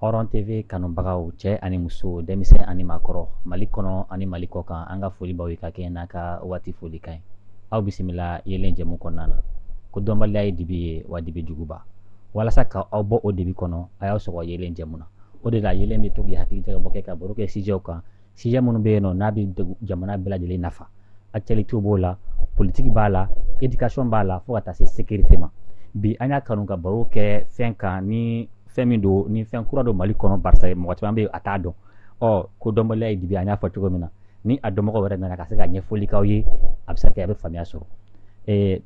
hɔrɔn tv kanubagaw cɛ ani muso denmisɛn ani maakɔrɔ mali kɔnɔ ani mali kɔ kan an ka foli b'aw ye ka kɛɲɛ n'a ka waati folikan ye aw bisimila yeelen jɛmu kɔnɔna na ko dɔnbaliya ye dibi ye wa dibi juguba walasa ka aw bɔ o dibi kɔnɔ a y'aw sɔgɔ yeelen jɛmu na o de la yeelen bɛ tugu ka hakili jagabɔ kɛ ka baro kɛ sijɛw kan sijɛ minnu bɛ yen nɔ n'a bɛ jamana bɛɛ lajɛlen nafa actualité b'a la politique b'a la éducation b'a la fo ka taa se sécurité ma bi an y'a kanu ka baro kɛ fɛn kan ni fɛn min don ni fɛn kura don mali kɔnɔ barisa mɔgɔ caman bɛ yen a t'a dɔn ɔ ko dɔnbaliya ye dibi an y'a fɔ cogo min na ni a dɔnbagaw yɛrɛ nana ka se ka ɲɛfɔli k'aw ye a bɛ se ka kɛ a bɛ faamuya sɔrɔ eh,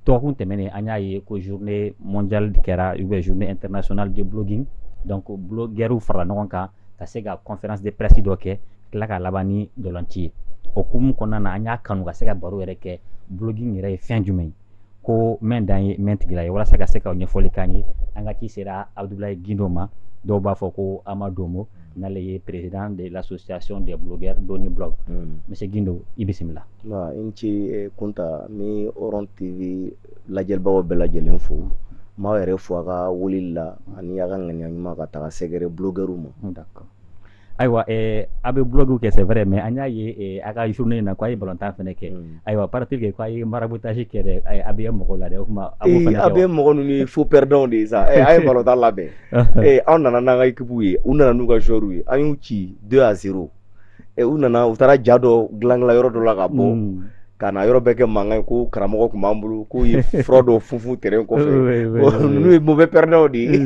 dɔgɔkun tɛmɛnen an y'a ye ko journée mondiale kɛra ou bien journée internationale de blogging donc blogueurs farala ɲɔgɔn kan ka se ka conférence de presse dɔ kɛ tila ka laban ni ntolanci ye o hukumu kɔnɔna na an y'a kanu ka se ka baro yɛrɛ kɛ blogging yɛrɛ ye fɛn jumɛn ye ko mɛn dan ye mɛn tigi la ye walasa ka se ka ɲɛfɔli k'an ye an ka ci sera abudulayi gindo ma dɔw b'a fɔ ko amadomo mm. n'ale ye président de l'association des blogueurs doniblog monsieur mm. gindo i bisimila i ni ce eh, kunta n bɛ hɔrɔn tv lajɛbagaw bɛɛ lajɛlen fo n b'aw yɛrɛ fo a ka wuli la ani a ka ŋaniya ɲuman ka taga sɛgɛrɛ blogueurs ma ayiwa eh, a bɛ blog kɛ c'est vrai mais an y'a ye eh, a ka journée in na ko a ye balontan fana kɛ mm. ayiwa paraît que ko a ye maraboutage kɛ dɛ a bɛ mɔgɔw la dɛ o tuma a b'o fana kɛ a bɛ mɔgɔ ninnu ye faux perdants de ye sa eh, an ye balontan labɛn an nana n'an ka équipe ye u nana n'u ka joueurs ye an y'u ci 2 à 0 e, u nana u taara ja dɔ dilanla yɔrɔ dɔ la ka bɔ hmm. ka na yɔrɔ bɛɛ kɛ mankan ye ko karamɔgɔ tun b'an bolo k'u ye fura dɔ funfun tɛrɛn kɔfɛ n'u ye mauvais perdants de ye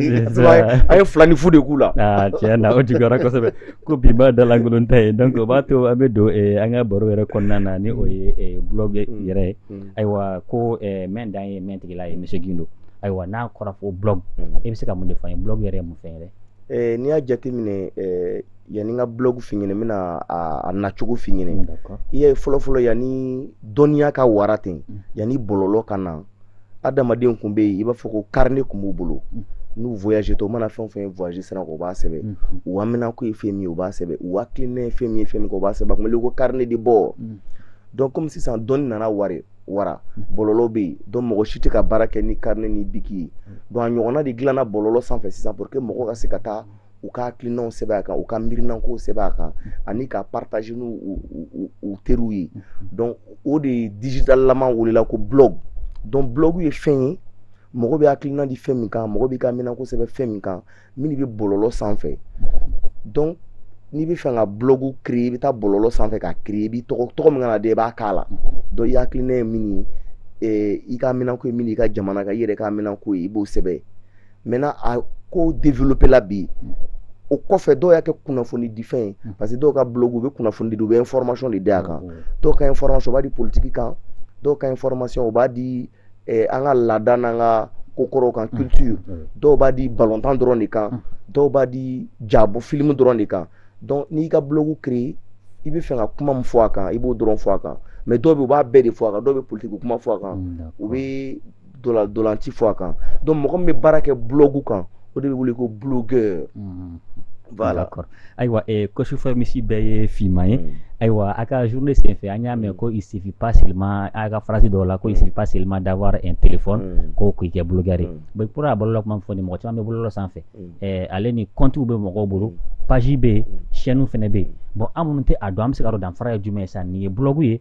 an ye fila ni fu de k'u la ah, tiɲɛ na o juguyara kosɛbɛ ko binbaa dalankolon tɛ yen donc o b'a to an bɛ don eh, an ka baro yɛrɛ kɔnɔna na ni o ye eh, blog hmm. yɛrɛ ye hmm. ayiwa ko eh, mɛn dan ye mɛn tigi la ye monsieur Gindo ayiwa n'a kɔrɔ fɔ blog e bɛ se ka mun de fɔ an ye blog yɛrɛ ye mun fɛn yɛrɛ n'i y'a jateminɛ yanni n ka blog f'i ɲɛna n bɛna a nacogo f'i ɲɛna i y'a ye fɔlɔfɔlɔ yanni dɔnniya ka wara ten mm. yanni bɔlɔlɔ ka na adamadenw tun bɛ yen i b'a fɔ ko carnet tun b'u bolo mm. n'u voyagetɔ u mana fɛn o fɛn voyage sira kan u b'a sɛbɛn mm. u haminako ye fɛn min ye u b'a sɛbɛn u hakilina ye fɛn min ye fɛn min kɛ u b'a sɛbɛn a tun bɛ ko carnet de bord donc comme sisan dɔnni nana wara wara bɔlɔlɔ bɛ yen donc mɔgɔ si tɛ ka baara kɛ ni carnet ni biki ye donc a ɲɔgɔnna de dilanna bɔlɔlɔ sanfɛ sisan pour que mɔgɔ ka se ka taa u ka hakilinaw sɛbɛn a kan u ka miirinankow sɛbɛn a kan ani k'a partager n'u u teriw ye donc o de ye digital lama welela ko blog donc blog ye fɛn ye mɔgɔ bɛ hakilina di fɛn min kan mɔgɔ b'i haminako sɛbɛn fɛn min kan min bɛ bɔlɔlɔ sanfɛ donc n'i bɛ fɛ ka blog créer i bɛ taa bɔlɔlɔ sanfɛ k'a créer i b'i tɔgɔ tɔgɔ min kana da i b'a k'a la donc i hakilina ye min ye i haminako ye min ye i ka jamana ka i yɛrɛ haminako ye i b'o sɛbɛn maintenant a ko développer la bi o kɔfɛ dɔw y'a kɛ kunnafoni di fɛn ye mm. parce que dɔw ka blog u bɛ kunnafoni di u bɛ information de di a kan mm. dɔw ka information u b'a di politiki kan dɔw ka information u b'a di eh, an ka laada n'an ka kokɔrɔw kan mm. culture dɔw b'a di balɔntan dɔrɔn de kan dɔw b'a di jabɔ film dɔrɔn de kan donc n'i ka blog créer i b'a fɛ ka kuma min fɔ a kan i b'o dɔrɔn fɔ a kan mais dɔw bɛ u b'a bɛɛ de fɔ a kan dɔw bɛ politiki kuma fɔ a kan u bɛ dolanci fɔ a kan donc mɔgɔ min bɛ baara kɛ blɔgu kan o de bɛ wele ko blogueur mhm. voilà ayiwa eh, ko su fɛ misi bɛɛ ye finman ye mm. ayiwa a ka journée senfɛ an y'a mɛn ko il suffit pas seulement a ka phrase dɔw la ko il suffit pas seulement d'avoir un téléphone mm. ko k'i kɛ blogueur ye mm. bon pour a bɔlɔlɔ kuma fɔ ni mɔgɔ caman bɛ bɔlɔlɔ sanfɛ eh, ale ni comptes bɛ mɔgɔw bolo page bɛ yen chaîne fana bɛ yen bon an minnu tɛ a dɔn an bɛ se k'a dɔn danfara ye jumɛn ye sa nin ye blɔgu ye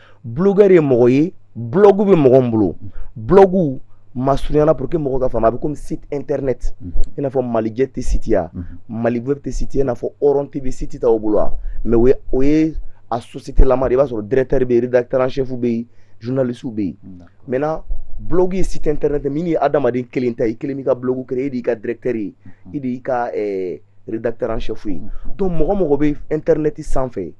blogɛri ye mɔgɔ ye blɔgu bɛ mɔgɔ min bolo blɔgu masurunyala pour que mɔgɔ k'a faamu a bɛ komi site internet i n'a fɔ Malijet site ya Maliweb site ya i n'a fɔ hɔrɔn tv site t'aw bolo wa mais o ye o ye a société lama de i b'a sɔrɔ directeur bɛ yen rédacteur en chef bɛ yen journaliste bɛ yen maintenant blog ye site internet min ye adamaden kelen ta ye i kelen b'i ka blog créer e de y'i ka directeur ye e de y'i ka rédacteur en chef ye donc mɔgɔ mɔgɔ bɛ internet sanfɛ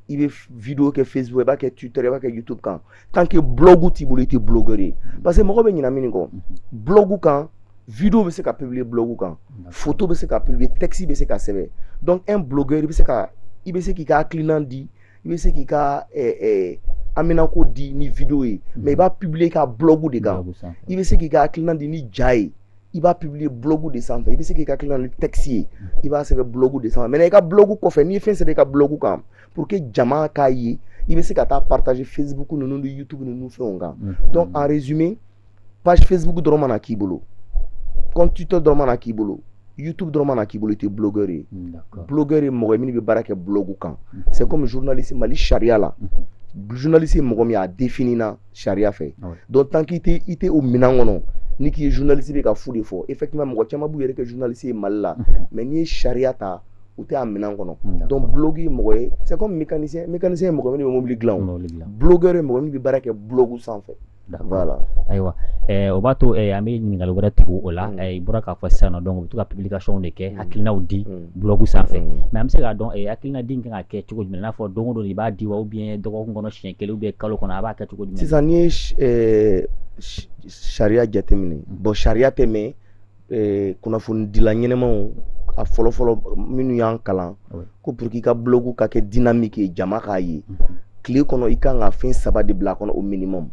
i bɛ video kɛ facebook i b'a kɛ twitter i b'a kɛ youtube kan tant que blog t'i bolo i tɛ blogueur ye parce que mɔgɔ bɛ ɲina min kɔ blog kan video bɛ se ka publier blog kan photo bɛ se ka publier texte bɛ se ka sɛbɛn donc un blogueur i bɛ se ka i bɛ se k'i ka hakilinan di i bɛ se k'i ka eh, eh, haminako di ni video ye mais i b'a publier i ka blog de kan i bɛ se k'i ka hakilinan di ni ja ye i b'a publier blog de sanfɛ i bɛ se k'i ka hakilinan di ni texte ye i b'a sɛbɛn blog de sanfɛ maintenant i ka blog kɔfɛ n'i ye fɛn sɛbɛn i ka blog kan pour que jama k'a ye i bɛ se ka taa partager facebook ninnu ni youtube ninnu fɛnw kan mm-hmm. donc en résumé page facebook dɔrɔn mana k'i bolo compte twitter dɔrɔn mana k'i bolo youtube dɔrɔn mana k'i bolo i tɛ blogueur ye blogueur ye mɔgɔ ye minnu bɛ baara kɛ blog kan mm-hmm. c'est comme journaliste mali sariya la mm-hmm. journaliste ye mɔgɔ min ye a définir na sariya fɛ donc tant qu'i tɛ i tɛ o minɛn kɔnɔ n'i k'i ye journaliste i bɛ ka fu de fɔ effectivement mɔgɔ caman b'u yɛrɛ kɛ journaliste ye Mali la mais n'i ye sariya ta u tɛ a minɛn kɔnɔ donc blogueur ye mɔgɔ ye c'est comme mécanicien mécanicien ye mɔgɔ min ye mobili dilan o blogueur ye mɔgɔ min bɛ baara kɛ blog sanfɛ voilà ayiwa ɛɛ o b'a to an bɛ ɲininkali wɛrɛ tugu o la i bɔra k'a fɔ sisan nɔ donc u bɛ to ka publication de kɛ hakilinaw di blog sanfɛ mais an bɛ se k'a dɔn a hakilina di ka kan ka kɛ cogo jumɛn n'a fɔ don o don i b'a di wa ou bien dɔgɔkun kɔnɔ siɲɛ kelen ou bien kalo kɔnɔ a b'a kɛ cogo jumɛn sisan n'i ye sariya jateminɛ bon sariya tɛ mais kunnafoni dila ɲɛnamaw a fɔlɔfɔlɔ minnu y'an kalan ko pour que i ka blog ka kɛ dynamique jama k'a ye tile kɔnɔ i ka kan ka fɛn saba de bila a kɔnɔ au minimum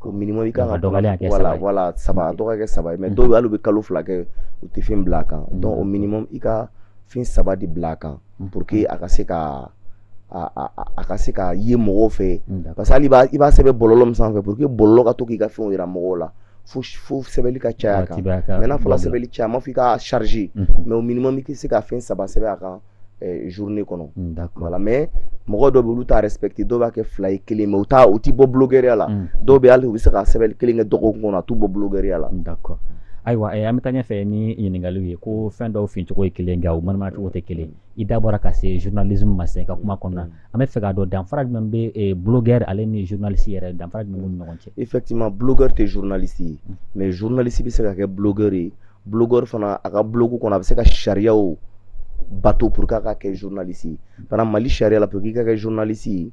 au minimum i kan ka dɔgɔlen a kɛ saba ye voilà saba a dɔgɔ kɛ saba ye mais dɔw bɛ hali u bɛ kalo fila kɛ u tɛ fɛn bila a kan donc au minimum i ka fɛn saba de bila a kan pour que a ka se ka a a a ka se ka ye mɔgɔw fɛ parce que hali i b'a sɛbɛn bɔlɔlɔ min sanfɛ pour que bɔlɔlɔ ka to k'i ka fɛnw yira mɔgɔw la fo fo sɛbɛnni ka caya a kan mais n'a fɔra sɛbɛnni caya n m'a fɔ i k'a charger mais au minimum i k'i se ka fɛn saba sɛbɛn a kan eh, journée kɔnɔ mm, voilà mais mɔgɔ dɔw bɛ olu t'a respecter dɔw b'a kɛ fila ye kelen mais u t'a a t'i bɔ blogueurya la mm. dɔw bɛ hali u bɛ se ka sɛbɛnni kelen kɛ dɔgɔkun kɔnɔ a t'u bɔ blogueurya la mm, d'accord ayiwa eh, an bɛ taa ɲɛfɛ ni ɲininkaliw ye ko fɛn dɔw fincogo ye kelen nka u manamana cogo tɛ kelen i da bɔra ka se journalisme ma sen ka kuma kɔnɔna an bɛ fɛ k'a dɔn danfara jumɛn bɛ eh, blogueur ale ni journaliste yɛrɛ danfara jumɛn b'u ni ɲɔgɔn cɛ effectivement blogueur tɛ journaliste ye mais journaliste bɛ se ka kɛ blogueur ye blogueur fana a ka blog kɔnɔ a bɛ se ka sariyaw bato pour que a ka kɛ journaliste ye fana mali sariya la pour i ka kɛ journaliste ye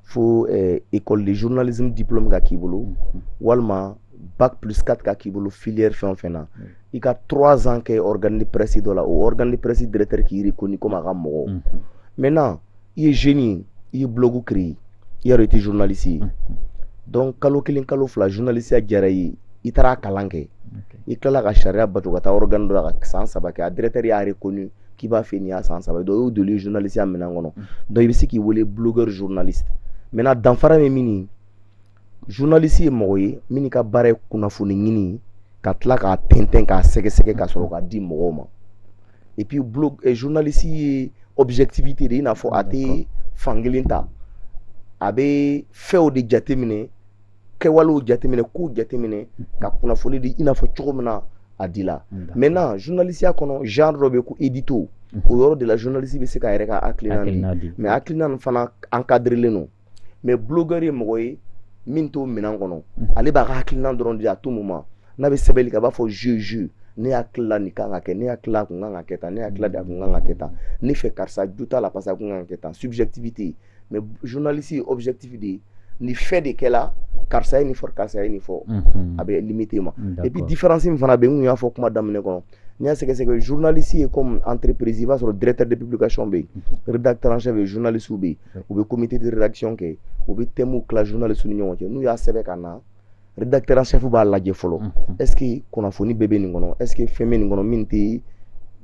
fo eh, école de journalisme diplôme ka k'i bolo walima bac plus 4 ka k'i bolo filière fɛn o fɛn na i ka 3 ans kɛ organe de presse dɔ la o organe de presse directeur k'i reconnu comme a ka mɔgɔ maintenant i ye jeune ye i ye blog créer i y'a dɔn i tɛ journaliste ye donc kalo kelen kalo fila journalisiya diyara i ye i taara a kalan kɛ i tilala ka sariya bato ka taa organe dɔ la ka san saba kɛ a directeur y'a reconnu k'i b'a fɛ nin y'a san saba ye donc o y'i donnen ye journalisiya minɛn kɔnɔ donc i bɛ se k'i wele blogueur journaliste maintenant danfara bɛ min journaliste ye mɔgɔ ye min ka baara ye kunnafoni ɲini ka tila k'a tɛntɛn k'a sɛgɛsɛgɛ ka sɔrɔ k'a di mɔgɔw ma et puis blog eh, journaliste ye objectivité de i n'a fɔ a tɛ fankelen ta a bɛ fɛnw de jateminɛ kɛwalew jateminɛ kow jateminɛ ka kunnafoni di i n'a fɔ cogo min na a di la maintenant journalisiya kɔnɔ genre dɔ bɛ ko édito o yɔrɔ de la journaliste bɛ se k'a yɛrɛ ka hakilina di mais hakilina nin fana encadrelen don mɛ bulogɛri ye mɔgɔ ye min t'o minɛn kɔnɔ ale b'a ka hakilina dɔrɔn di à tout moment n'a bɛ sɛbɛnni kɛ a b'a fɔ je je ne yeta la nin kan ka kɛ ne yeta la a kun kan ka kɛ tan ne yeta la a kun kan ka kɛ tan ne fɛ karisa jo t'a la parce que a kun kan ka kɛ tan subjectivité mais journaliste ye objectif de ye nin fɛn de kɛla karisa ye nin fɔ karisa ye nin fɔ a bɛ limiter o ma et puis différence min fana bɛ yen n kun y'a fɔ kuma daminɛ kɔnɔ n'i y'a sɛgɛsɛgɛ journaliste ye comme entreprise i b'a sɔrɔ directeur de publication bɛ yen rédacteur en chef bɛ yen journaliste bɛ yen u bɛ comité de rédaction kɛ u bɛ thème tila journalistes ni ɲɔgɔn cɛ n'u y'a sɛbɛn ka na rédacteur en chef b'a lajɛ fɔlɔ est ce que kunnafoni bɛɛ bɛ nin kɔnɔ est ce que fɛn bɛ nin kɔnɔ min tɛ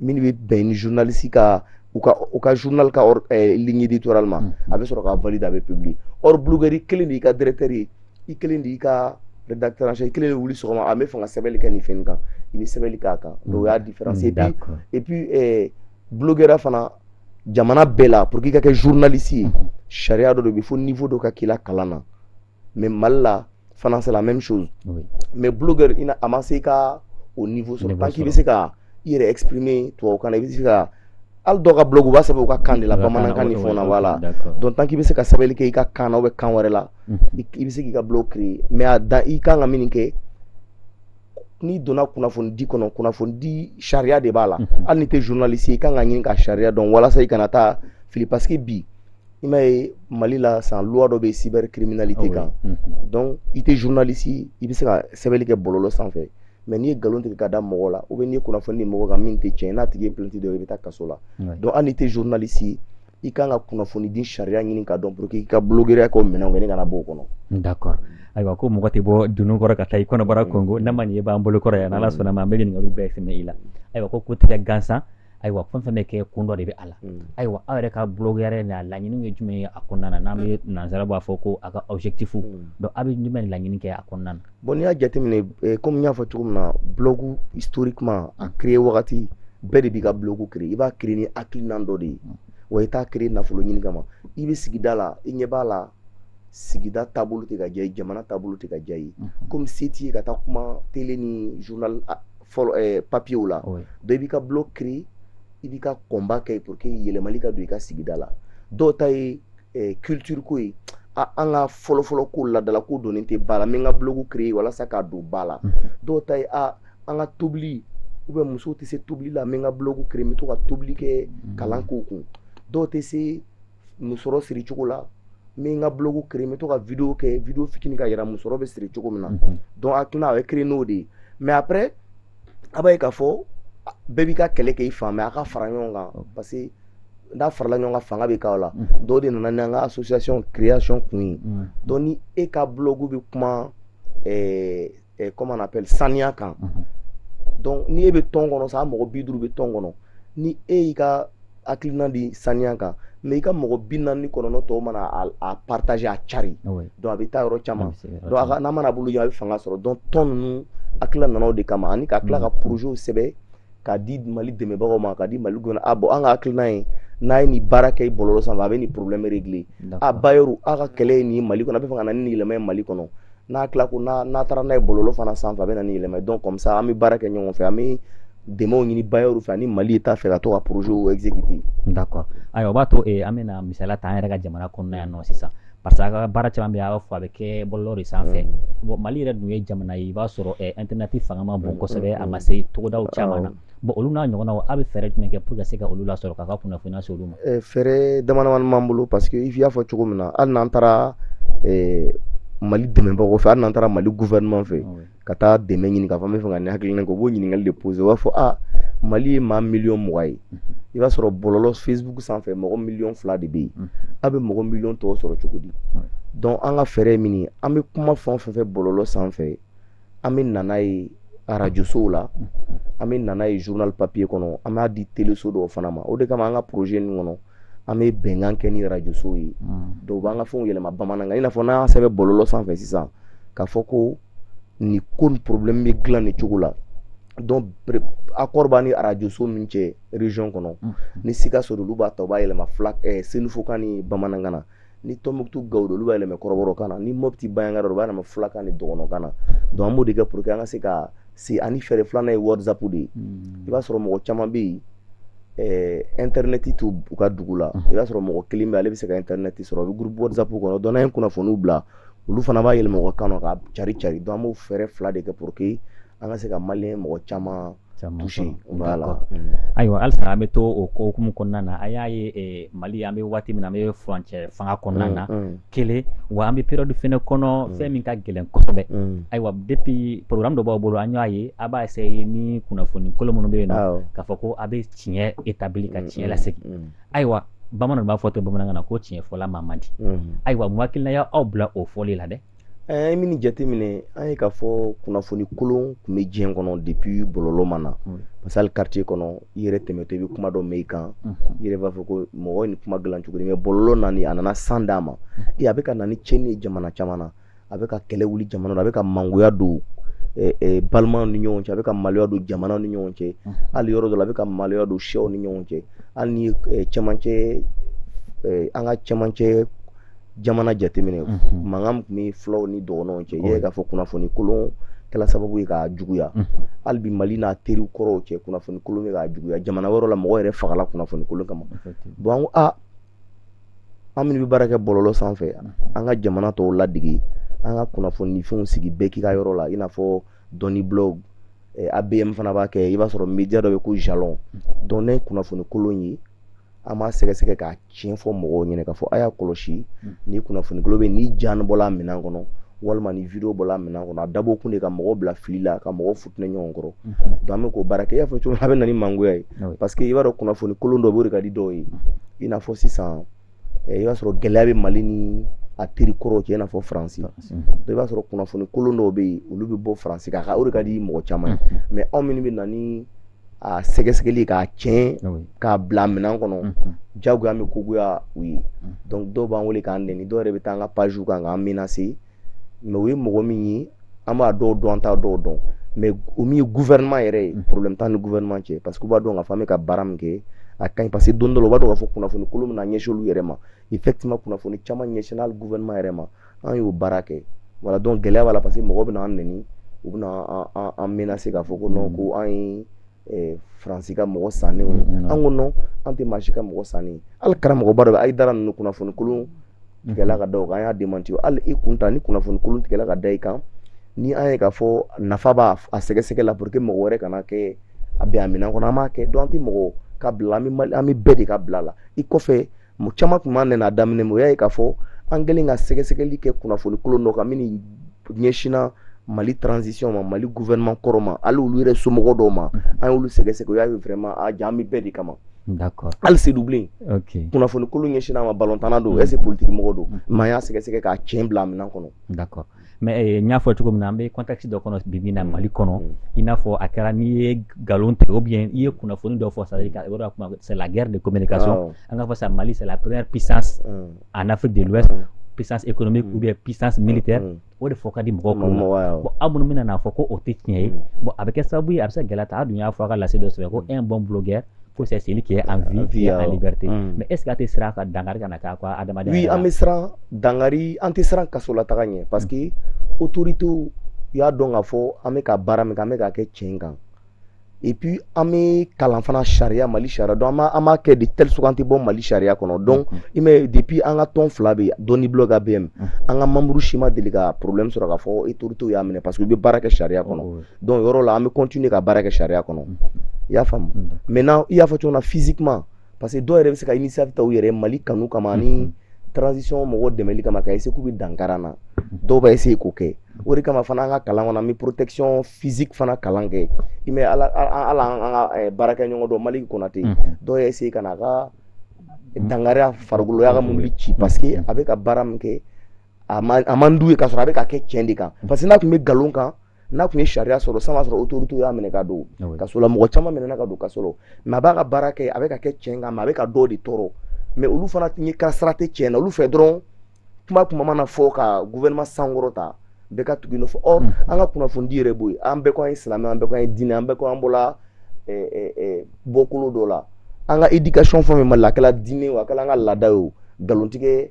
min bɛ bɛn ni journaliste ka u ka u ka journal ka or eh, ligne éditoriale ma a bɛ sɔrɔ k'a valider a bɛ publier or blogueur i kelen de y'i ka directeur ye i kelen de y'i ka rédacteur en chef i kelen de wuli sɔgɔma a bɛ fɛ ka sɛbɛnni kɛ nin fɛn in kan i bɛ sɛbɛnni k'a kan donc o y'a différence et puis D'accord. et puis eh, blogueur fana jamana bɛɛ la pour que i ka kɛ journaliste ye sariya dɔ de bɛ fo niveau dɔ ka k'i la kalan na mais mali la fana c'est la même chose oui. mais blogueur ina a ma se i ka o niveau sɔrɔ tant k'i bɛ se ka i yɛrɛ exprimer tubabukan na i bɛ se ka hali dɔw ka blog u b'a sɛbɛn u ka kan de la bamanankan ni fɛnw na voilà donc tant k'i bɛ se ka sɛbɛnni kɛ i ka kan na ou bien kan wɛrɛ la i bɛ se k'i ka blog créer mais a dan i kan ka min kɛ n'i donna kunnafonidi kɔnɔ kunnafonidi sariya de b'a la mhm. hali n'i tɛ journaliste i kan ka ɲini k'a sariya dɔn walasa i kana taa fili parce que bi i m'a ye mali la sisan loi dɔ bɛ cybercriminalité ah kan mhm. donc i tɛ journaliste i bɛ se ka sɛbɛnni kɛ bɔlɔlɔ sanfɛ mais n'i ye nkalon tigɛ ka da mɔgɔ la ou bien n'i ye kunnafoni di mɔgɔ kan min tɛ tiɲɛ n'a tigi ye plainte don i bɛ taa kaso la donc hali n'i tɛ journaliste i kan ka kunnafonidi sariya ɲini k'a dɔn pour que i ka bulogeriya k'o minɛnw kɛ ni kana b'o kɔnɔ d'accord ayiwa ko mɔgɔ tɛ bɔ dunun kɔrɔ ka taa i kɔnɔbara konkon n'a ma nin ye b'an bolo kɔrɔ yan n'ala sɔnn'a ma an bɛ ɲininkaliw bɛɛ sɛmɛ i la ayiwa ko ko tɛ kɛ gansan ayiwa fɛn fɛn bɛ kɛ kun dɔ de bɛ a la mm. ayiwa aw yɛrɛ ka bulogeriya na laɲiniw ye jumɛn ye a kɔnɔna na n'an bɛ nansara b'a fɔ ko a ka objectif mm. donc aw bɛ jumɛn laɲini kɛ a kɔnɔna na Bon n'i y'a jateminɛ kɔmi y'a fɔ cogo min na blog historiquement a créer wagati bɛɛ de b'i ka blog créer i b'a créer ni hakilinan dɔ de ye wa i t'a créer nafolo ɲini kama i bɛ sigida la i ɲɛ b'a la sigida taabolo tɛ ka diya i ye jamana taabolo tɛ ka diya i ye kɔmi se t'i ye ka taa kuma télé ni journal papiyew la donc i b'i ka blog créer i b'i ka combat kɛ pour que yɛlɛma ka don i ka sigida la dɔw ta ye eh, culture ko ye an ka fɔlɔfɔlɔ ko laadala ko donnen tɛ ba la n bɛ n ka blogu créer walasa k'a don ba la dɔw ta ye a an ka tobili ou bien musow tɛ se tobili la n bɛ n ka blogu créer n bɛ to ka tobili kɛ kalan k'u kun dɔw tɛ se musɔrɔ siri cogo la n bɛ n ka blogu créer n bɛ to ka video kɛ video fitini k'a yira musɔrɔ bɛ siri cogo min na donc en tout cas a bɛ créer n'o de ye mais après a b'a ye k'a fɔ bɛɛ b'i ka kɛlɛ kɛ i fan mais a ka fara ɲɔgɔn kan parce que n'a farala ɲɔgɔn kan fanga bɛ k'aw la donc o de nana n'an ka association création kun ye donc ni e ka blog bɛ kuma ɛɛ ɛɛ comment on appelle saniya kan donc ni e bɛ tɔn kɔnɔ sa mɔgɔ bi duuru bɛ tɔn kɔnɔ ni e y'i ka hakilina di saniya kan mais i ka mɔgɔ bi naani ni kɔnɔntɔn tɔw mana a partager a cari ah donc a bɛ taa yɔrɔ caman donc n'a mana bolo ɲɛ a bɛ fanga sɔrɔ donc tɔn ninnu hakilila nana o de kama ani ka tila ka mm. projet sɛbɛn k'a di mali dɛmɛbagaw ma k'a di mali gouvernement ma bon an ka hakilina ye n'a ye nin baara kɛ i bɔlɔlɔ sanfɛ a bɛ nin problème régler a bailleur a ka kɛlɛ ye nin mali kɔnɔ a bɛ fɛ ka na ni nin yɛlɛma ye mali kɔnɔ n hakili la ko n'a n'a taara n'a ye bɔlɔlɔ fana sanfɛ a bɛ na ni yɛlɛma ye donc comme ça an bɛ baara kɛ ɲɔgɔn fɛ an bɛ dɛmɛw ɲini bailleurw fɛ ani mali état fɛ ka to ka projet exécuter d'accord ayiwa o b'a to eh, an bɛna misaliya ta an yɛrɛ ka jamana kɔnɔna yan nɔ sisan parce que a ka baara caman bɛ yen a b'a fɔ a bɛ kɛ bɔlɔlɔ de sanfɛ mm. bon mali yɛrɛ dun ye jamana ye i b'a sɔrɔ eh, internet fanga ma bon mm, kosɛbɛ mm, a ma se togodaw caman na bon olu n'a ɲɔgɔnnaw a bɛ fɛɛrɛ jumɛn kɛ pour que se ka olu lasɔrɔ k'a ka kunnafoni lase olu ma eh, fɛɛrɛ damadamani b'an bolo parce que i y'a fɔ cogo min na hali n'an taara eh, mali dɛmɛbagaw fɛ hali n'an taara mali gouvernement fɛ ka taa dɛmɛ ɲini k'a fɔ n b'a fɛ ka nin hakilina kɛ u b'o ɲininkali de pose u b'a fɔ a mali ye maa miliyɔn mugan ye i b'a sɔrɔ bɔlɔlɔ facebook sanfɛ mɔgɔ miliyɔn fila de bɛ yen mm. a bɛ mɔgɔ miliyɔn tɔw sɔrɔ cogo di donc an ka fɛɛrɛ ye min ye an bɛ kuma fɛn o fɛn fɔ bɔlɔlɔ sanfɛ an bɛ na n'a ye arajosow la an bɛ na n'a ye journal papier kɔnɔ an b'a di teleso dɔw fana ma o de kama an ka projet ninnu kɔnɔ an bɛ bɛnkan kɛ ni arajosow ye dɔw b'an ka fɛnw yɛlɛma bamanankan i n'a fɔ n'an y'a sɛbɛn bɔlɔlɔ sanfɛ sisan k'a fɔ ko nin ko nin problème bɛ dilan nin cogo la donc accord b'an ni arajoso min cɛ région kɔnɔ ni sikaso don olu b'a ta u b'a yɛlɛma fula senufokan ni bamanankan na ni tɔnbukutu gawo don olu b'a yɛlɛma kɔrɔbɔrɔkan na ni mɔpiti banjagara don u b'a yɛlɛma fulakan ni dɔgɔnɔkan na donc an b'o de kɛ pour que an ka se ka se ani fɛɛrɛ filanan ye whatsapp de ye hmm. i b'a sɔrɔ mɔgɔ caman bɛ yen eh, intɛrnɛti t'u u ka dugu la hmm. i b'a sɔrɔ mɔgɔ kelen bɛ ale bɛ se ka intɛrnɛti sɔrɔ a bɛ groupe whatsapp kɔnɔ donc n'an ye kunnafoniw bila olu fana b'a yɛlɛma u ka kan na k'a cari cari donc an b'o fɛɛrɛ fila de kɛ pour que an ka se ka maliyɛn mɔgɔ caman ayiwa halisa an bɛ to o hukumu kɔnɔna na a y'a ye mali an bɛ waati min na an bɛ furancɛ fanga kɔnɔna na kelen wa an bɛ période fana kɔnɔ fɛn min ka gɛlɛn kosɛbɛ ayiwa depuis programme dɔ b'aw bolo an y'a ye a b'a ye ni kunnafoni kolon minnu bɛ yen na k'a fɔ ko a bɛ tiɲɛ établi ka tiɲɛ lasigi ayiwa bamanan b'a fɔ tɛ bamanankan na ko tiɲɛfɔla maa man di ayiwa mun hakilina y' aw bila o fɔli la dɛ an ye min jateminɛ an ye k'a fɔ kunnafoni kolon tun bɛ diɲɛ kɔnɔ depuis bɔlɔlɔ ma na mm. parce que hali quartier kɔnɔ i yɛrɛ tɛmɛtɔ i bɛ kuma dɔ mɛn i kan mm. i yɛrɛ b'a fɔ ko mɔgɔ ye nin kuma dilan cogo di mais bɔlɔlɔ nani a nana sanga d'a ma mm. e a bɛ ka na ni tiɲɛni ye jamana caman na a bɛ ka kɛlɛ wuli jamana na a bɛ ka mangoya don eh, eh, balimaw ni ɲɔgɔn cɛ a bɛ ka mangoya don jamanaw ni ɲɔgɔn cɛ hali yɔrɔ dɔ la a bɛ ka mangoya don siyaw ni ɲɔgɔn cɛ hali ni eh, cɛmancɛ an ka cɛmancɛ jamana jateminɛ mankan tun bɛ fulaw ni dɔgɔnɔw cɛ i k'a fɔ kunnafoni kolon kɛra sababu ye k'a juguya hali bi mali n'a teri kɔrɔw cɛ kunnafoni kolon k'a juguya jamana yɔrɔ la mɔgɔ yɛrɛ fagala kunnafoni kolon kama bon aa an minnu bɛ baara kɛ bɔlɔlɔ sanfɛ yan an ka jamana tɔw ladege an ka kunnafoni fɛnw sigi bɛɛ k'i ka yɔrɔ la i n'a fɔ doniblog abm fana b'a kɛ i b'a sɔrɔ média dɔ bɛ ko jalon donc kunnafoni kolon ye an b'a sɛgɛsɛgɛ k'a tiɲɛ fɔ mɔgɔw ɲɛna k'a fɔ a y'a kɔlɔsi hmm. nin kunnafoni kolon bɛ nin ja bɔla minɛn kɔnɔ walima nin video bɔla minɛn kɔnɔ a dabɔ kun de ka mɔgɔw bila fili la ka mɔgɔw fitinɛ ɲɔgɔn kɔrɔ hmm. donc an bɛ k'o baara kɛ i y'a fɔ cogo min a bɛ na ni mangoya ye ah parce que i b'a dɔn kunnafoni kolon dɔ b'o de ka di dɔw ye i n'a fɔ sisan eh, i b'a sɔrɔ gɛlɛya bɛ mali ni a teri kɔrɔw cɛ i n'a fɔ faransi donc i b'a sɔrɔ kunnafoni kolon dɔw bɛ yen olu bɛ bɔ faransi kan o de ka di mɔgɔ caman ye hmm. mais anw minnu bɛ na ni a sɛgɛsɛgɛli k'a tiɲɛ k'a bila minɛn kɔnɔ jago an bɛ ko goya u ye dɔw b'an wele k'an n dɔw yɛrɛ bɛ taa an ka pazw kan k'an menacer mais u ye mɔgɔ min ye an b'a dɔw dɔn t'a dɔw dɔn mais min ye gouvernement yɛrɛ ye problème t'an ni gouvernement cɛ parce que u b'a dɔn k'a fɔ an bɛ ka baara min kɛ a ka ɲi parce que don dɔ b'a dɔn k'a fɔ kunnafonikolon min na ɲɛsin u yɛrɛ ma effectivement kunnafoni caman ɲɛsinna gouvernement yɛrɛ ma an y'o baara kɛ voilà donc gɛlɛya b'a la parce que mɔgɔ bɛna an nɛni u bɛna an menacer k'a fɔ ko non ko an ye eh, faransi ka mɔgɔ sannen mm-hmm. an ko non an tɛ maa si ka mɔgɔ sannen hali karamɔgɔba dɔ bɛ haïdara ninnu kunnafoni kolon mm-hmm. tigɛla ka da o kan an y'a démentir hali i kun ta ni kunnafoni kolon tigɛla ka da i kan ni an ye k'a fɔ nafa b'a a sɛgɛsɛgɛ la pour que mɔgɔ wɛrɛ kana kɛ a bɛn a minɛn kɔnɔ an b'a kɛ donc an tɛ mɔgɔ ka bila an bɛ bɛɛ de ka bila la i kɔfɛ mɔgɔ caman tun b'an nɛni a daminɛ na o y'a ye k'a fɔ an kɛlen ka sɛgɛsɛgɛli kɛ kunnafoni kolon dɔ kan min ɲɛsinna mali transition ma mali gouvernement kɔrɔ ma hali olu yɛrɛ somɔgɔ dɔw ma an y'olu sɛgɛsɛgɛ o y'a ye vraiment jaa an bɛ bɛɛ de kama D'accord. hali seydoublen Ok. kunnafoni kolon ɲɛsinna a ma balontanna don est ce que politique mɔgɔ don mais an y'a sɛgɛsɛgɛ k'a tiɲɛ bila a minɛn kɔnɔ D'accord. mais eh, n y'a fɔ cogo min na an bɛ contexte dɔ kɔnɔ bibi na mm. mali kɔnɔ mm. i n'a fɔ a kɛra n'i ye nkalon tigɛ ou bien i ye kunnafoni dɔ fɔ c'est-à-dire yɔrɔ la kuma c'est la guerre de communication an k'a fɔ sa mali c'est la première puissance mm. en afrique de l'ouest puissance économique ou bien puissance militaire o de fɔ ka di mɔgɔw kɔnɔ bon aw minnu bɛna n'a fɔ ko o tɛ tiɲɛ ye bon a bɛ kɛ sababu ye a bɛ se ka gɛlɛya ta a dun y'a fɔ a ka lase dɔ sɛbɛn ko un bon blogueur ko c'est celui qui est en vie, vie et en euh, liberté. Mm. Mais est-ce que aw tɛ siran dankari kana kɛ quoi adamaden? Oui, an bɛ siran dankari, an tɛ siran kasolataga ɲɛ parce que mm. autorité y'a dɔn k'a fɔ an bɛ ka baara min kɛ, an bɛ k'a kɛ tiɲɛ kan. Et puis an bɛ kalan fana sariya Mali sariya donc an b'a an b'a kɛ de telle sorte an tɛ bɔ Mali sariya kɔnɔ donc mm. i m'a ye depuis an ka tɔn fila bɛ yen Doniblog ABM an ka membre si ma deli ka problème sɔrɔ k'a fɔ autorité y'a minɛ parce que u bɛ baara kɛ sariya kɔnɔ. donc yɔrɔ la an bɛ continuer ka baara kɛ sariya kɔnɔ mm. i y'a faamu mm. maintenant i y'a fɔ cogo min na physiquement parce que dɔw yɛrɛ bɛ se ka initiative ta u yɛrɛ mali kanu kama mm. ani transition mɔgɔw dɛmɛli kama ka essayer k'u bɛ dankari an na dɔw b'a essayer k'o kɛ o de kama fana an ka kalan kɔnɔ an bɛ protection physique fana kalan kɛ i m'a ye hali hali an ka eh, baarakɛɲɔgɔn dɔ malick konate dɔw y'a essayer ka na a ka dankari a farikolo u y'a ka mobili ci parce que a bɛ ka baara min kɛ a man d'u ye k'a sɔrɔ a bɛ k'a kɛ tiɲɛ de kan parce que n'a tun bɛ nkalon kan n'a tun ye sariya sɔsɔ sisan b'a sɔrɔ autorité y'a minɛ ka don ah kaso la mɔgɔ caman minɛna ka don kaso la mais a bɛ ka baara kɛ a bɛ k'a kɛ tiɲɛ kan mais a bɛ ka dɔw de tɔɔrɔ mais olu fana ye ka sira tɛ tiɲɛ na olu fɛ dɔrɔn kuma kuma mana fɔ ka gouvernement sankɔrɔta bɛɛ ka tugu nɔfɛ or hmm. an ka kunnafonidi yɛrɛ b'o ye an bɛɛ ko an ye silamɛ an bɛɛ ko an ye diinɛ an bɛɛ ko an bɔla eh, eh, eh, bɔkolo dɔ la an ka éducation fɛn fɛn b'a la a kɛla diinɛ o a kɛla an ka laada ye o nkalontigɛ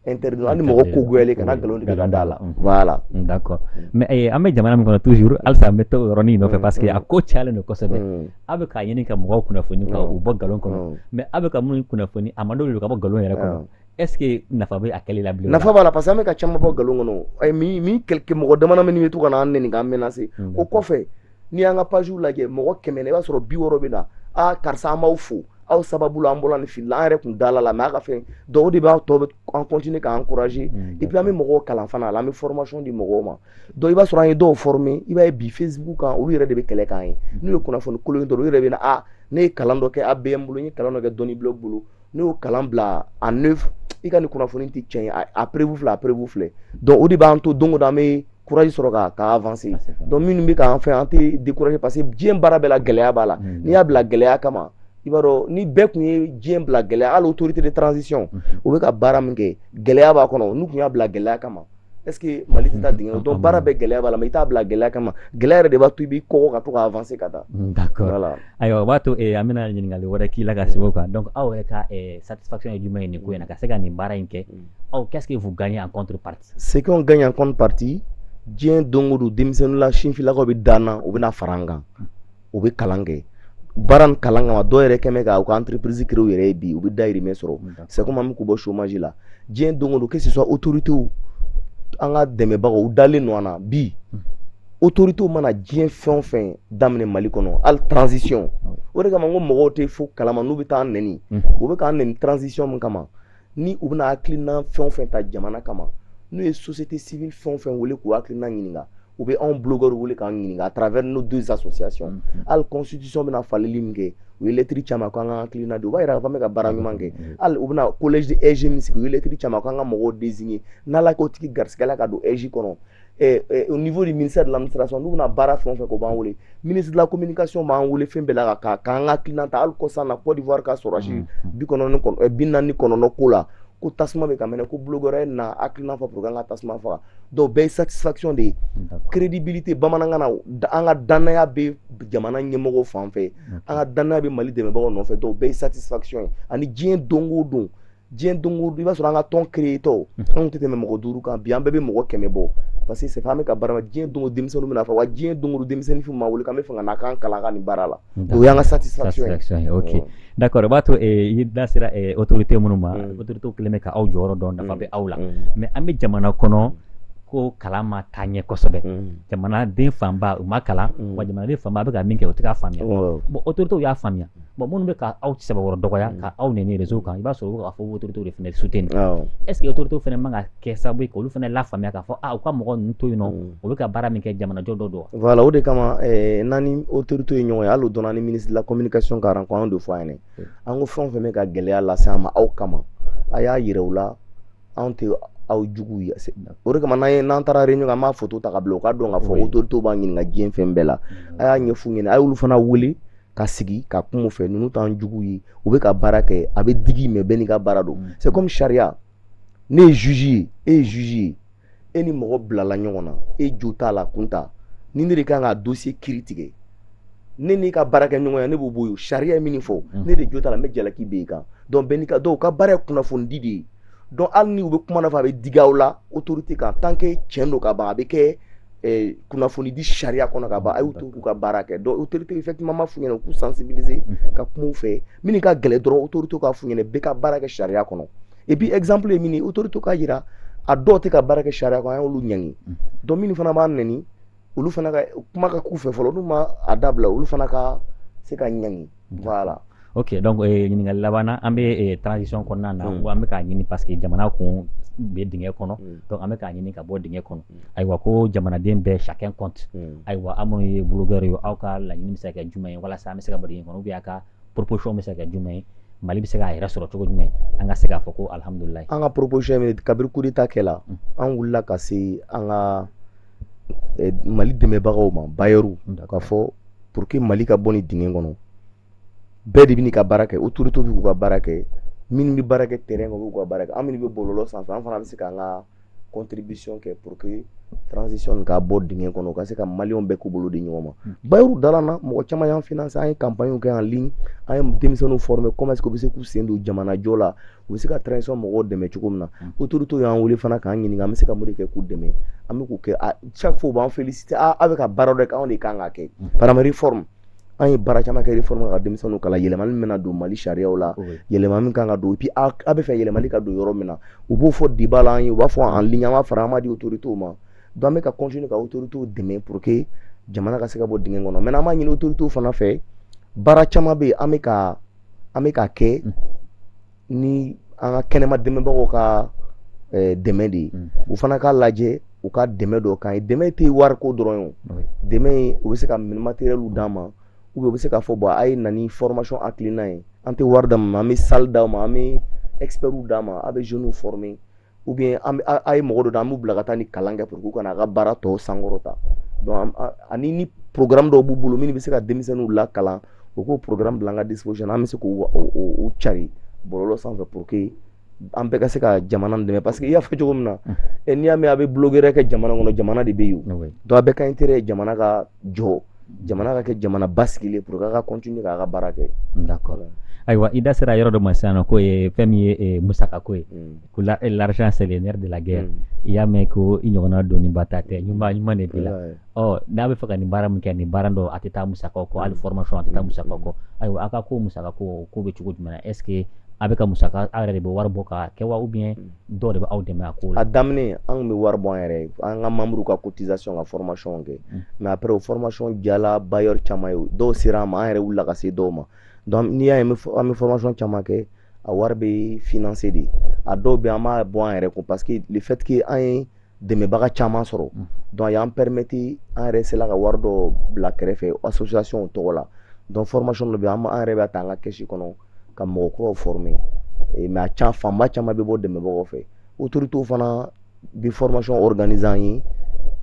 interdit hali mɔgɔ ko goyalen kana nkalon tigɛ ka da a la voilà d'accord mais eh, an bɛ jamana min kɔnɔ toujours halisa an bɛ to yɔrɔnin nɔfɛ mm, parce que a mm. ko cayalen don kosɛbɛ mm. aw bɛ k'a ɲini ka mɔgɔw kunnafoni ka u bɔ nkalon kɔnɔ mais aw bɛ ka minnu kunnafoni a man d'olu ka bɔ nkalon yɛrɛ kɔnɔ est ce que nafa bɛ a kɛli la bilen nafa b'a la parce que an bɛ ka caman bɔ nkalon kɔnɔ min min mɔgɔ dama dama minnu bɛ to ka na an nɛni k'an menacer o kɔfɛ n'i y'an ka pagew lajɛ mɔgɔ kɛmɛ na i b'a sɔrɔ bi wɔɔrɔ bɛ na a karisa an b'aw fo aw sababu la an bɔra nin fili la an yɛrɛ kun dala a la mais a ka fɛn dɔw de b'a to an continuer k'an encourager mm, et puis an bɛ mɔgɔw kalan fana la an bɛ formation di mɔgɔw ma donc i b'a sɔrɔ an ye dɔw former i b'a ye bi facebook kan olu yɛrɛ de bɛ kɛlɛ k'an ye n'u ye kunnafoni kolon ye dɔrɔn u yɛrɛ bɛ na a ne ye kalan dɔ kɛ ABM bolo n ye kalan dɔ kɛ Doniblog bolo ne y'o kalan bila a ne i ka nin kunnafoni tɛ tiɲɛ ye a preuve filɛ a preuve filɛ donc o de b'an to don o don an bɛ courage sɔrɔ ka ka avancer donc minnu bɛ k'an fɛ an tɛ décourager parce que diɲɛ baara bɛɛ la gɛlɛya b'a la n'i y'a bila gɛlɛya kama i b'a dɔn ni bɛɛ tun ye diɲɛ bila gɛlɛya hali autorité de transition u bɛ ka baara min kɛ gɛlɛya b'a kɔnɔ n'u tun y'a bila gɛlɛya kama est ce que mali tɛ taa dingɛ donc baara bɛɛ gɛlɛya b'a la mais i t'a bila gɛlɛya kama gɛlɛya yɛrɛ de b'a to i bɛ kɔgɔ ka to ka avancer ka taa mm, d'accord ayiwa o b'a to eh, an bɛna ɲininkali wɛrɛ k'i la ka sigi o kan donc aw yɛrɛ ka eh, satisfaction ye jumɛn ye nin ko in na ka se ka nin baara in kɛ mm. aw qu'est ce que vous gagnez en contrepartie ce qu'on gagne en contrepartie diɲɛ don o don denmisɛnninla sinfilakaw bɛ da an na u bɛna fara an kan mm. u bɛ kalan kɛ baara nin kalan kama dɔw yɛrɛ kɛmɛ ka u ka entreprise créer u yɛrɛ ye bi u bɛ dayirimɛ sɔrɔ c'est comme an bɛ k'u bɔ chômage la diɲɛ don o don que ce soit autorité an ka dɛmɛbagaw u dalen don an na bi autorité mana diɲɛ fɛn o fɛn daminɛ Mali kɔnɔ hali transition o de kama n ko mɔgɔw tɛ foyi kalama n'u bɛ t'an nɛni u bɛ k'an nɛni transition min kama ni u bɛna hakilina fɛn o fɛn ta jamana kama n'u ye société civile fɛn o fɛn wele k'u hakilina ɲininka u bɛ anw blogueurs wele k'an ɲininka à travers nos deux associations mm-hmm. hali constitution bɛna falenni min kɛ u ye lɛtiri ci an ma ko an ka hakilina di u b'a yira k'a fɔ an bɛ ka baara ɲuman kɛ mm-hmm. hali u bɛna collège de AIGE min sigi u ye lɛtiri ci an ma ko an ka mɔgɔw désigner n'ala k'o tigi garisigɛ la ka don AIGE kɔnɔ eh, eh, au niveau du ministère de l'administration n'u bɛna baara fɛn o fɛn k'u b'an wele ministre de la communication b'an wele fɛn bɛɛ la ka k'an ka hakilina ta hali kɔsan na Côte d'Ivoire ka sɔrɔdasi mm, mm. bi kɔnɔntɔn kɔnɔ eh, bi naani kɔnɔntɔn ko la ko tasuma bɛ ka mɛnɛ ko blogueurs na hakilina fɔ pour an ka tasuma faga donc bɛɛ ye satisfaction de ye crédibilité bamanankan na an ka dannaya bɛ jamana ɲɛmɔgɔ fan fɛ an ka dannaya bɛ mali dɛmɛbagaw nɔfɛ donc bɛɛ ye satisfaction ye ani diɲɛ don o don diɲɛ don o don i b'a sɔrɔ an ka tɔn créatɔ mhm. anw tɛ tɛmɛ mɔgɔ duuru kan bi an bɛɛ bɛ mɔgɔ kɛmɛ bɔ parce que c'est an bɛ ka baara la diɲɛ don o denmisɛnninw bɛna fɔ wa diɲɛ don o don denmisɛnnin f'u ma wele k'an bɛ fɛ ka na k'an kalan ka nin baara la o y'an ka satisfaction ye ok mm. d'accord o b'a to eh, i da sera eh, autorité minnu ma mm. autorité kɛlen bɛ ka aw jɔyɔrɔ dɔn nafa mm. bɛ aw la mais an bɛ jamana kɔnɔ ko kalan ma taa ɲɛ kosɛbɛ jamanaden fanba u ma kalan wa jamanaden fanba aw bɛ ka min kɛ u tɛ k'a faamuya bon autorité y'a faamuya bon minnu bɛ ka aw saba yɔrɔ dɔgɔya mm. ka aw nɛni réseau kan i b'a sɔrɔ u bɛ k'a fɔ autorités de fana soutenir est ce que autorités fana man ka kɛ sababu ye k'olu fana lafaamuya k'a fɔ a ah, u ka mɔgɔ ninnu to yen nɔ mm. u bɛ ka baara min kɛ jamanajɔ dɔ don voilà o de kama eh, n'an ni autorités ye ɲɔgɔn ye hali o don na ni ministre de la communication ka rencontre an y'o de fɔ a ɲɛna an ko fɛn o fɛn bɛ ka gɛlɛya lase an ma aw kama a y'a yira u la anw tɛ aw juguw ye o de kama n'an ye n'an taara réunion an b'a photo ta ka bila u ka dɔn k'a fɔ autorités b'an ɲininka diɲɛ fɛn bɛɛ la mm. a y'a ɲɛf'u ɲɛna a y'olu fana wele ka sigi ka kuma u fɛ ninnu t'an jugu ye u bɛ ka baara kɛ a bɛ digi mais bɛɛ n'i ka baara don mm. c'est comme sariya ne ye juge ye e ye juge ye e ni mɔgɔ bilala ɲɔgɔn na e jo t'a la kun ta ni ne de kan ka dossier kiri tigɛ ne n'i ka baarakɛɲɔgɔnya ne b'o bɔ yen sariya ye min fɔ mm. n'e de jo t'a la n bɛ jalaki bin i kan donc bɛɛ n'i ka dɔw ka baara ye kunnafonidi de ye donc hali ni u bɛ kuma nafa a bɛ digi aw la otorite kan tant que tiɲɛ don ka ban a bɛ kɛ eh, kunnafoni di sariya kɔnɔ ka ban a y'u to k'u ka baara kɛ donc otorite bɛ fɛn caman ma f'u ɲɛna k'u sensibiliser ka kuma u fɛ minnu ka gɛlɛn dɔrɔn otorite k'a f'u ɲɛna bɛɛ ka baara kɛ sariya kɔnɔ et puis exemple ye min ye otorite k'a jira a dɔw tɛ ka baara kɛ sariya kɔnɔ an y'olu ɲangi donc minnu fana b'aw nɛni olu fana ka kuma ka k'u fɛ fɔlɔ n'u ma a dabila olu fana ka se ka ɲangi voilà ok donc eh, ɲininkali laban na an bɛ eh, transition kɔnɔna na mm. an bɛ k'a ɲini parce que jamana kun bɛ dingɛ kɔnɔ mm. donc an bɛ k'a ɲini ka bɔ dingɛ kɔnɔ mm. ayiwa ko jamanaden bɛɛ chacun compte mm. ayiwa aw minnu ye blogueur ye aw ka laɲini bɛ se ka kɛ jumɛn ye walasa an bɛ se ka bɔ dingɛ kɔnɔ ou bien a ka proposition bɛ se ka kɛ jumɛn ye mali bɛ se k'a yɛrɛ sɔrɔ cogo jumɛn an ka se k'a fɔ ko alihamudulilayi an ka proposition ye kabiri coup d'etat kɛla mm. an wulila ka se an ka eh, mali dɛmɛbagaw ma bailleurw k'a fɔ pour que mali ka bɔ nin dingɛ kɔnɔ bɛɛ de bɛ ka baara kɛ autorité bɛ k'u ka baara kɛ minnu bɛ baara kɛ terrain kan u b'u ka baara kɛ an minnu bɛ bɔlɔlɔ sanfɛ an fana bɛ se k'an ka contribution kɛ pour que transition nin ka bɔ dingɛ kɔnɔ u ka se ka maliyɛnw bɛɛ k'u bolo di ɲɔgɔn ma hmm. bailleurw dala an na mɔgɔ caman y'an finance an ye campagne kɛ en ligne an ye denmisɛnninw former comment est ce que u bɛ se k'u sen don jamanajɔ la u bɛ se ka transition mɔgɔw dɛmɛ cogo min na mm. autorités y'an wele fana k'an ɲininka an bɛ se ka mun de kɛ k'u dɛmɛ an bɛ k'o kɛ ah, chaque fois u b'an féliciter ah, aw bɛ ka baara dɔ kɛ anw de kan k'a kɛ mm. par exemple réforme an ye baara caman kɛ réforme ka denmisɛnninw kalan yɛlɛmali min bɛna don Mali sariyaw la yɛlɛma min kan ka don et puis aw b'a fɛ yɛlɛmali ka don yɔrɔ min na u b'o fɔ débat la an ye u b'a fɔ en ligne an b'a fara an b'a di autorités ma donc an bɛ ka continuer ka autorités dɛmɛ pour que jamana ka se ka bɔ dingɛ kɔnɔ maintenant an b'a ɲini autorités fana fɛ baara caman bɛ yen an bɛ ka an bɛ ka kɛ ni an ka kɛnɛma dɛmɛbagaw ka eh, dɛmɛ de ye u fana k'a lajɛ u ka dɛmɛ dɔ k'an ye dɛmɛ tɛ wariko dɔrɔn ye o dɛmɛ in u bɛ se ka minɛn matérielw d'an ma u bɛ se k'a fɔ bon a ye na ni formation hakilina ye an tɛ wari d'a ma an bɛ salle d'a ma an bɛ expertw d'a ma a bɛ jeunes former ou bien an a ye mɔgɔ dɔ da an b'u bila ka taa ni kalan kɛ pour que u ka na a ka baara tɔw sankɔrɔta donc ani ni programme dɔw b'u bolo minnu bɛ se ka denmisɛnninw lakalan u k'o programme bila an ka disposition an bɛ se k'u u cari bɔlɔlɔ sanfɛ pour que an bɛɛ ka se ka jamana dɛmɛ parce que i y'a fɔ cogo min na n'i y'a mɛn a bɛ bulogɛrɛ kɛ jamana kɔnɔ jamana de bɛ yen donc an bɛɛ ka intérêt ye jamana ka jɔ jamana ka kɛ jamana basigilen pour que an ka continuer k'an ka baara kɛ d'accord ayiwa i da sera yɔrɔ dɔ ma sisan nɔ k'o ye fɛn min ye eh, musaka ko ye mm. ko la, eh, l'argent c'est le nerf de la guerre mm. i y'a mɛn ko i ɲɔgɔnna doniba ta tɛ ɲuman ɲuman de b'i la ɔ n'a b'a fɛ ka nin baara min kɛ nin baara dɔ a tɛ taa musakaw kɔ hali mm. formation a tɛ taa mm. musakaw kɔ mm. ayiwa a ka ko musaka ko ko bɛ cogo jumɛn na est ce que a bɛ ka musaka a yɛrɛ de bɛ wari bɔ ka kɛ wa ou bien dɔw de bɛ aw dɛmɛ a ko la a daminɛ an tun bɛ wari bɔ an yɛrɛ ye an ka manburuw ka cotisation ka formation kɛ mm. mais après o formation diyala bailleur caman ye dɔw sera an ma an yɛrɛ wulila ka se dɔw ma donc n'i y'a ye an bɛ formation caman kɛ a wari bɛ financer de a dɔw bɛ an b'a bɔ an yɛrɛ kun parce que le fait que an ye dɛmɛbaga caman sɔrɔ donc o y'an pɛremeti an yɛrɛ sera ka wari dɔ bila kɛrɛfɛ asosiyasiɔn tɔgɔ la donc fɔrɔmasiɔn dɔ bɛ yen an yɛrɛ b'a ta an ka kɛsi kɔnɔ ka mɔgɔ kuraw fɔrɔme mɛ a fanba caman bɛ bɔ dɛmɛbagaw fɛ otoritew fana bi fɔrɔmasiɔn ɔriganize an ye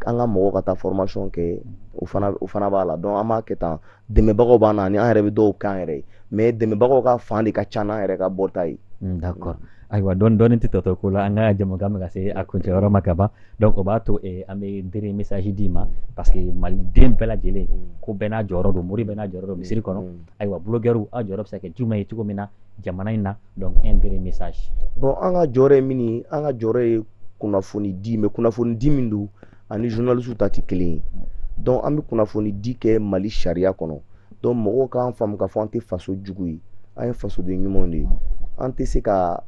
an ka mɔgɔw ka taa fɔrɔmasiɔn kɛ o fana b'a la donc an b'a kɛ tan dɛmɛbagaw b'an na ani an yɛrɛ bɛ dɔw k'an yɛrɛ ye mais dɛmɛbagaw ka fan de ka ca n'an yɛrɛ ka bɔta ye mm, d'accord ayiwa dɔɔni dɔɔni tɛ tɔ to ko la an ka jɛmukan bɛ ka se a kuncɛ yɔrɔ ma ka ban donc o b'a to eh, an bɛ dernier message d'i ma parce que maliden bɛɛ lajɛlen mm. ko bɛɛ n'a jɔyɔrɔ don mori bɛɛ n'a jɔyɔrɔ don misiri kɔnɔ mm. ayiwa bloguɛriw aw jɔyɔrɔ bɛ se ka kɛ jumɛn ye cogo min na jamana in na donc un dernier message bon an ka jɔyɔrɔ ye min ye an ka jɔyɔrɔ ye kunnafoni di mais kunnafoni di min don ani journalistes ta tɛ kelen ye donc an bɛ kunnafoni di kɛ Mali sariya kɔnɔ donc mɔgɔw k'an faamu k'a fɔ an tɛ faso jugu ye an ye fasoden ɲumanw de ye an tɛ se ka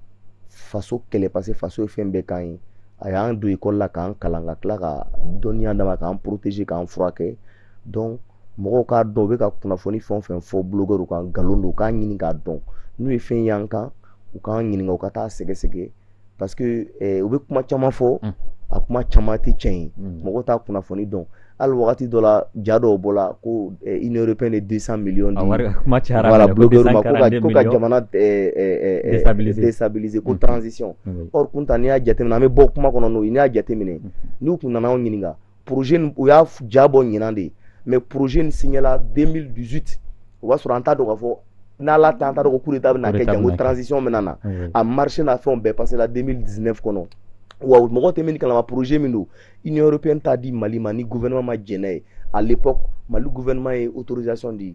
faso kɛlɛ parce que faso ye fɛn bɛɛ k'an ye a y'an don ekɔli la k'an kalan ka tila ka dɔnniya d'an ma k'an protéger k'an furakɛ donc mɔgɔw k'a dɔn u bɛ ka kunnafoni fɛn o fɛn fɔ bulogɛriw kan nkalon don u k'a ɲini k'a dɔn n'u ye fɛn y'an kan u k'an ɲininka u ka t'a sɛgɛsɛgɛ parce que eh, u bɛ kuma caman fɔ mm. a kuma caman tɛ tiɲɛ ye mm. mɔgɔw t'a kunnafoni dɔn hali wagati dɔ la ja dɔw bɔla ko eh, union européenne ye 200 millions di voilà blogueurs ma ko ka ko ka jamana eh, eh, eh, déstabiliser déstabiliser ko mm. transition or kunta n'i y'a jateminɛ an bɛ bɔ kuma kɔnɔ n'o ye n'i y'a jateminɛ n'u kun nana anw ɲininka projet nin u y'a f- ja bɔ ɲinan de mais projet nin siɲɛla 2018 o b'a sɔrɔ an t'a dɔn k'a fɔ n'ala ta an t'a dɔn ko coup d'état bɛna kɛ Coup d'état bɛna kɛ. janko transition bɛna na Oui. a marché n'a fɛnw bɛɛ passéla 2019 kɔnɔ wa mɔgɔw tɛ min kalama projet min don union européenne t'a di mali ma ni gouvernement ma jɛn n'a ye à l'époque mali gouvernement ye autorisation di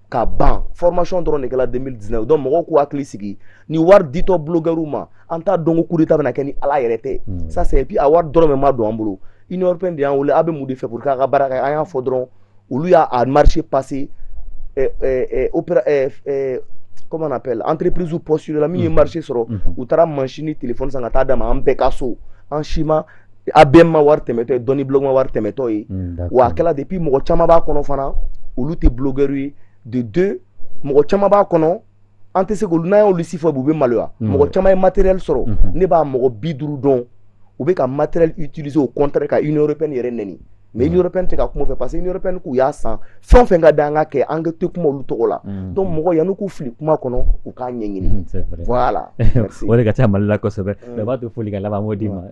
ka ban formation dɔrɔn de kɛra 2019 donc mɔgɔw k'u hakili sigi nin wari ditɔ blogueurs ma an t'a dɔn ko coup d'état bɛna kɛ ni ala yɛrɛ tɛ hmm. ça c'est et puis a wari dɔrɔmɛ ma don an bolo union européenne de y'an wele a bɛ mun de fɛ pour que a ka baara kɛ an y'a fɔ dɔrɔn olu y'a a marché passé eh, eh, eh, opéra eh, eh, comment on appelle entreprisew postulela min ye hmm. marché sɔrɔ hmm. u taara mansin ni téléphone san ka taa d'an ma an bɛɛ ka so an si ma a bɛɛ ma wari tɛmɛtɔ ye doniblog ma wari tɛmɛtɔ ye wa a kɛra depuis mɔgɔ caman b'a kɔnɔ fana olu tɛ blogueur ye de deux mɔgɔ caman b'a kɔnɔ an tɛ se k'olu n'an y'olu si fɔ u bɛ maloya mɔgɔ caman ye matériel sɔrɔ ne b'a mɔgɔ bi duuru dɔn u bɛ ka matériel utiliser au contraire ka Union européenne yɛrɛ nɛni mais union européenne tɛ ka kuma o fɛ parce que union européenne k'u y'a san fɛn o fɛn ka da an ka kɛ an tɛ kuma olu tɔgɔ la mm. donc mɔgɔ yanni k'u fili kuma kɔnɔ u k'a ɲɛɲini mm, voilà o de ka ca mali la kosɛbɛ mm. bɛɛ b'a to foli ka laban m'o d'i ma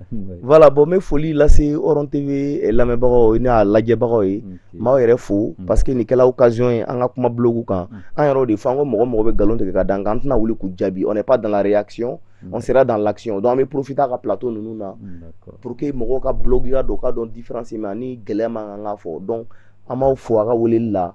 voilà bon n bɛ foli lase Horon TV eh, lamɛnbagaw n'a lajɛbagaw ye n b'aw yɛrɛ fo parce que nin kɛla occasion ye an ka kuma blogu kan an yɛrɛw de fɔ an ko mɔgɔ o mɔgɔ bɛ nkalon tigɛ ka da an kan an tɛna wuli k'u jaabi on n'est pas dans la réaction on sera dans l'action donc an bɛ profiter a ka plateau ninnu na pour que mɔgɔw ka blogya dɔn u ka dɔn différence min b'a ni gɛlɛya man kan k'a fɔ donc an b'aw fo a ka weleli la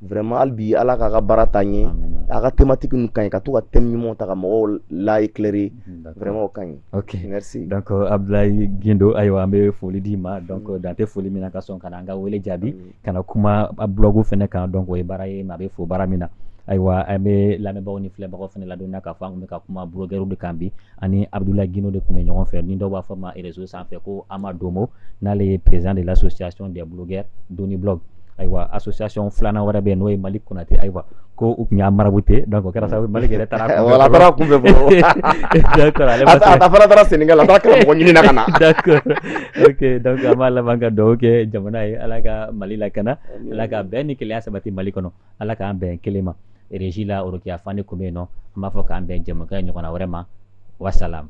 vraiment hali bi ala k'a ka baara taa ɲɛ a ka thématique ninnu ka ɲi ka to ka thème ɲumanw ta ka mɔgɔw la éclairer vraiment o ka ɲi ok merci donc abdoulaye guindo ayiwa an bɛ foli d'i ma donc dan tɛ foli min na ka sɔn ka na an ka wele jaabi ka na kuma blɔgu fana kan dɔnku o ye baara ye maa bɛ fo baara min na ayiwa an bɛ lamɛnbagaw ni filɛbagaw fana ladɔnniya k'a fɔ an tun bɛ ka kuma blogɛriw de kan bi an ni abudula gindo de tun bɛ ɲɔgɔn fɛ ni dɔw b'a fɔ a ma rezo sanfɛ ko amadomo n'ale ye perezan de lasosiyasɔn de blogɛ doniblɔgu ayiwa asosiyasɔn filanan wɛrɛ bɛ yen n'o ye maliki konate ayiwa ko u tun y'a marabu tɛ dɔn kɛra sababu maliki yɛrɛ taara taara kun bɛ bɔ fana taara senkɛ la taara mɔgɔ ɲini na ka na dɔnku an b'a laban ka duwa kɛ jamana ye ala ka mali lakana ala ka bɛn ni kelenya sabati mali kɔnɔ ala k'an bɛn kelen ma rezi la orokiya fane tun bɛ yen nɔ an b'a fɔ k'an bɛn jɛmu ɲɔgɔn wɛrɛ ma wasalamu